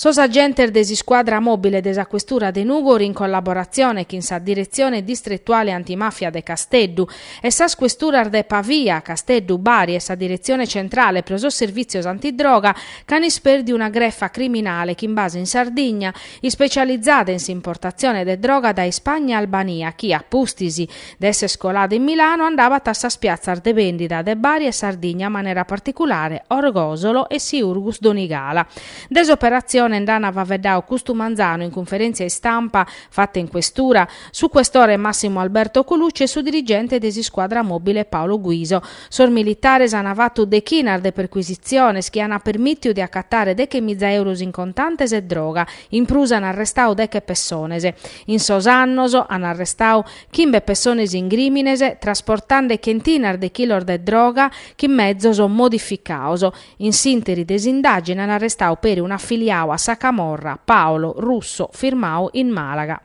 Sos agentes de s'iscuadra mòbile de sa questura de Nùgoro in collaboratzione chin sa Diretzione Distretuale Antimàfia de Casteddu e sas questuras de Pavia, Casteddu, Bari e sa Diretzione Centrale pro sos Servìtzios Antidroga ch'an ispèrdiu una grefa criminale chin base in Sardigna ispecializada in s'importatzione de droga dae Ispagna e Albania chi, a pustis, De èssere colada in Milano andabat a sas piatzas de bèndida de Bari e Sardigna in manera particulare Orgosolo e Siurgus Donigala. De s'operatzione nd'ana faveddau custu manzanu in cunferèntzia istampa fata in Questura su questore Massimo Alberto Colucci e su dirigente de s'iscuadra mòbile Paolo Guiso. Sos militares ana fatu dechinas de percuisitziones chi ana permìtiu de acatare deche miza euros in contantes e droga. In prus ana arrestau deche pessones. In sos annos ana arrestau chimbe pessones in grìmines trasportande chentinas de chilos de droga chin mezos modificaos. In s'ìnteri de s'indàgine an arrestau peri un'afiliau a sa camorra, Paolo Russo, firmau in Màlaga.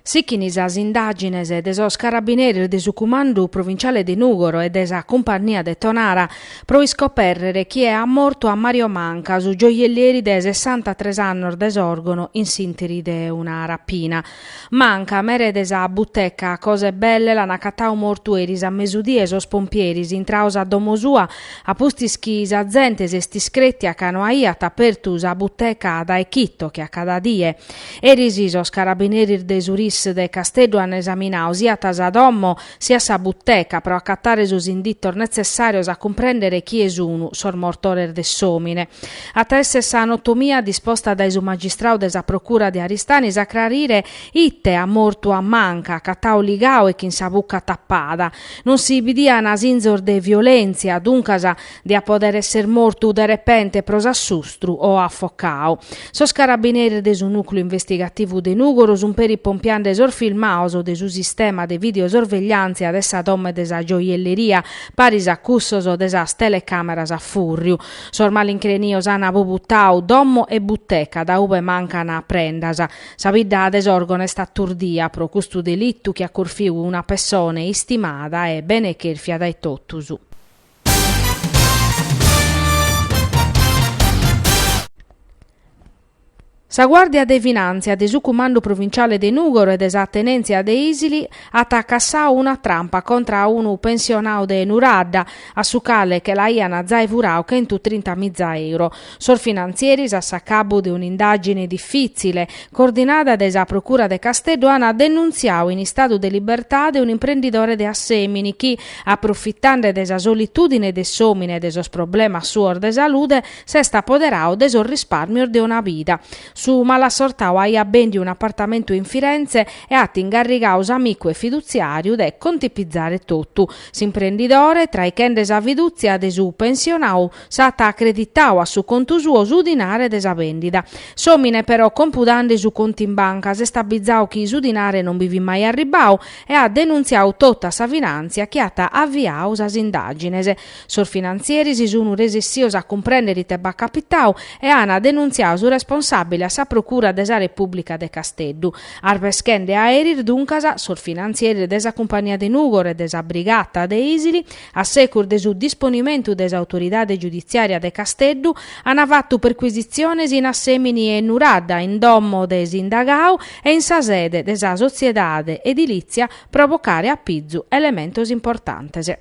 Sichint sas indàgines de sos carabineris de su Cumandu Provinciale de Nùgoro e de sa Cumpannia de Tonara pro iscopèrrere chie at mortu a Mario Manca, su gioiellieri de sessantatres annos de Sòrgono in s'ìnteri de una rapina. Manca, mere de sa buteca Cose Belle l'an acatau mortu eris a mesudie sos pompieris intraos a domo sua a pustis chi sa zente s'est iscrètia ca no aiat apertu sa buteca dae chito che a cada die Eris sos carabineris de su RIS de Casteddu an esaminau siat sa domo siat sa buteca pro acatare sos inditos netzessàrios a cumprèndere chie sun sos mortores de s'òmine. At a èssere sa anotomia disposta dae su magistrau de sa procura de Aristanis a crarire ite at mortu a Manca, acatau ligau e chin sa buca tapada. Non si bidian sinzos de violèntzia, duncas, diat pòdere èssere mortu de repente pro s'assustru o afocau. Sos carabineris de su Nùcleu Investigativu de Nùgoro sunt peri pompiande sos filmaos de su sistema de videosorvegliàntzia de sa domo e de sa gioielleria, paris a cussos de sas telecàmeras a fùrriu. Sos malincrenios ant bubutau domo e buteca dae ube mancan prendas. Sa bidda de Sòrgono est aturdia pro custu delitu chi at corfiu una pessone istimada e bene chèrfia dae totus. Sa Guàrdia de Finàntzia de su Cumandu Provinciale de Nùgoro e de sa Tenèntzia de Ìsili at cassau una trampa contra a unu pensionau de Nuradda, a su cale che l'aian zai furau chentu trinta miza euro. Sos finantzieris a s'acabu de un'indàgine difìtzile, coordinada dae sa Procura de Casteddu, ant denuntziau in istadu de libertade un'imprendidore de Assèmini chi, aprofitande de sa solitùdine de s'òmine e de sos problemas suos de salude, s'est apoderau de sos rispàrmios de una bida. Su malassortau aiat bèndiu un'apartamentu in Firenze e at ingarrigau s'amicu e fidutziàriu de contipizare totu. S'imprendidore, traichende sa fidùtzia de su pensionau, S'at acreditau a su contu suo su dinare de sa bèndida. S'òmine però compudande su contu in banca s'est abbizau chi su dinare non bi fit mai arribbau e at denuntziau totu a sa finàntzia chi at aviau sas indàgines. Sos finantzieris sunu resissios a cumprèndere ite b'at capitau e ana denuntziau su responsàbile a sa Procura de sa Repùblica de Casteddu. Arbeschende a eris duncas sos finantzieris de sa cumpagnia de Nùgoro e de sa Brigata de Isili A secus de su disponimentu de s'autoridade giuditziària de Casteddu, ant fatu percuisitziones in Assèmini e Nuradda, in domo de s'indagau e in sa sede de sa sotziedade edilìtzia pro bocare a pizu elementos importantes.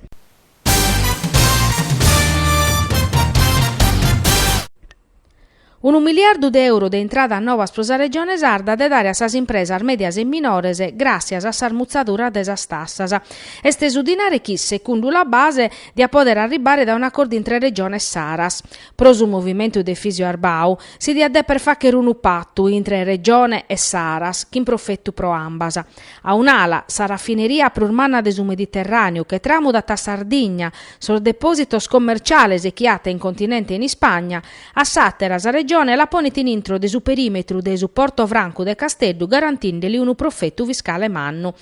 Unu miliardu de euro de intradas novas pro sa Regione Sarda de dare a sas impresas mèdias e minores gràssias a sas mutzaduras de sas tassas. Est su dinare chi, secundu La Base, diat pòdere arribbare dae un'acordu intre Regione e Saras. Pro su movimentu de Efisio Arbau, si diat dèpere fàchere unu patu intre Regione e Saras, chin profetu pro ambas. A un'ala, sa rafineria prus manna de su Mediterràneu, che tramudat a Sardigna, sos depòsitos commerciales chi at in continente e in Ispagna, a s'àtera, sa Regione la ponet in intro de su perìmetru de su Porto Francu de Casteddu garantindeli unu profetu fiscale mannu.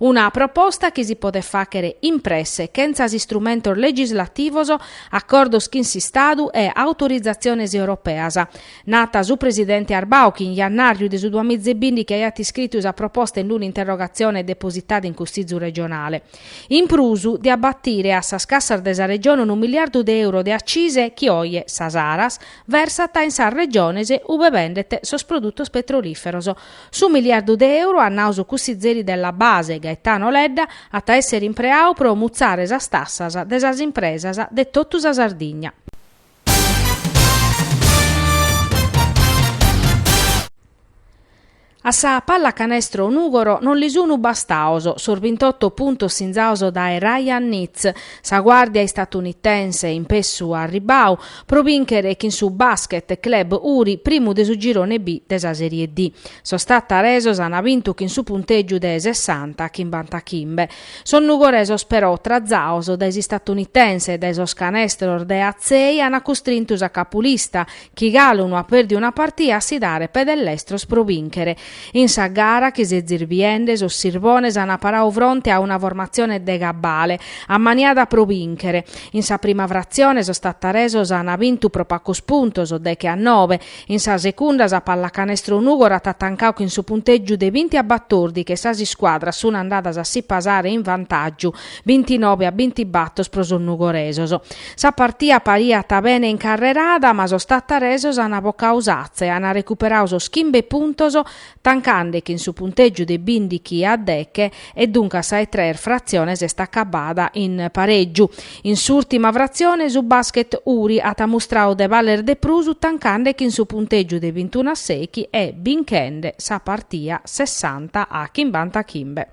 Una proposta chi si podet fàchere in presse, chentza istrumentos legislativos, acordos chin s'Istadu e autorizatziones europeas. Nat su presidente Arbau chi in jannàrriu de su duamiza e bìndichi aiat iscritu sa proposta in un'interrogatzione depositada in Cussizu regionale. In prus, diat batire a sas cassas de sa Regione unu miliardu de euro de accise chi oje sa Saras versat in sas Regiones ube bendet sos produtos petrolìferos. Su miliardu de euro, at nau su cussizeri de La Base, Gaetano Ledda, at a èssere impreau pro mutzare sas tassas de sas impresas de totu sa Sardigna. A sa pallacanestro Nùgoro non li sunu bastaos sos bintotto puntos sinzaos dae Ryan Nitz, sa guàrdia istatunitense in pessu arribbau pro bìnchere chin su Basket Club Uri primu de su girone B de sa Serie D. Sos tattaresos ant bintu chin su puntègiu de sessanta a chimbantachimbe. Sos nugoresos però, trazados dae s'istatunitense e dae sos canestros de Atzei an custrintu sa capulista, chi galu no at pèrdiu una partia, a si dare pè de lestros pro bìnchere. In sa gara chi s'est zirbiende, sos sirbones an paradu fronte a una formatzione de cabale, ammaniada pro bìnchere. In sa prima fratzione sos tattaresos an bintu pro pagos puntos, deghe a nobe, In sa segunda sa Pallacanestro Nùgoro at tancadu chin su puntègiu de binti a batordi che sas iscuadras sun andadas a si pasare in vantàgiu, bintinobe a bintibator pro sos nugoresos. Sa partia pariat bene incarrerada ma sos tattaresos an bocadu s'atza e an recuperadu sos chimbe puntos tancande chin su puntègiu de bindighi a deghe e duncas sa 'e tres fratzione est acabada in parègiu. In s'ùrtima fratzione su Basket Uri at mustradu de baler de prus tancande chin su puntègiu de bintunu a sèighi e binchende sa partia sessanta a chimbantachimbe.